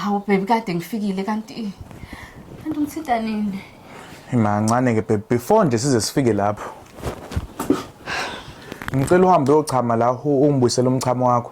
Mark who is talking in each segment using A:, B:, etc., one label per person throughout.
A: Hawu baby kade ngifikile kanti kanti umthinta nini? Imancane
B: ke baby before nje size sifike lapho. Ngicela uhambe uyochama la ungibuyisele umchamo wakho.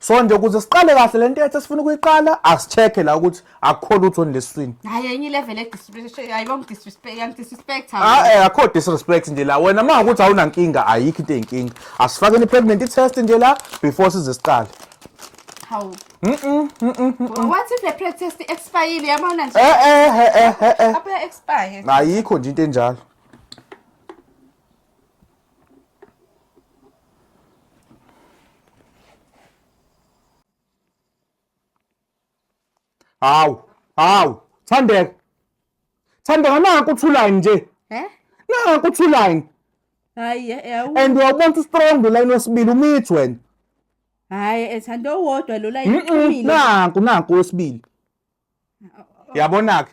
B: so nje ukuze siqale kahle le ntetho esifuna ukuyiqala asicheke la ukuthi akukho lutho nilesiswini hayi enye ilevel
A: edisrespect ah, eh, akho
B: disrespect nje la wena uma ukuthi awunankinga ayikho into eyinkinga asifakeni i-pregnancy test nje la before size siqale
A: hawu What if the pre test expire yabona nje? Eh eh eh eh. eh, eh. Abe expire. Ayikho nje into enjalo.
B: Hawu, hawu, Thandeka. Thandeka naku uthulayi nje. Eh? Naku uthulayi.
A: Hayi, yawu. And uyabona
B: ukuthi strong line wesibili umithi wena. Hayi,
A: ethanda owodwa lo line Mm-mm,
B: uqinile.
A: Naku
B: naku
A: wesibili. Yabona ke.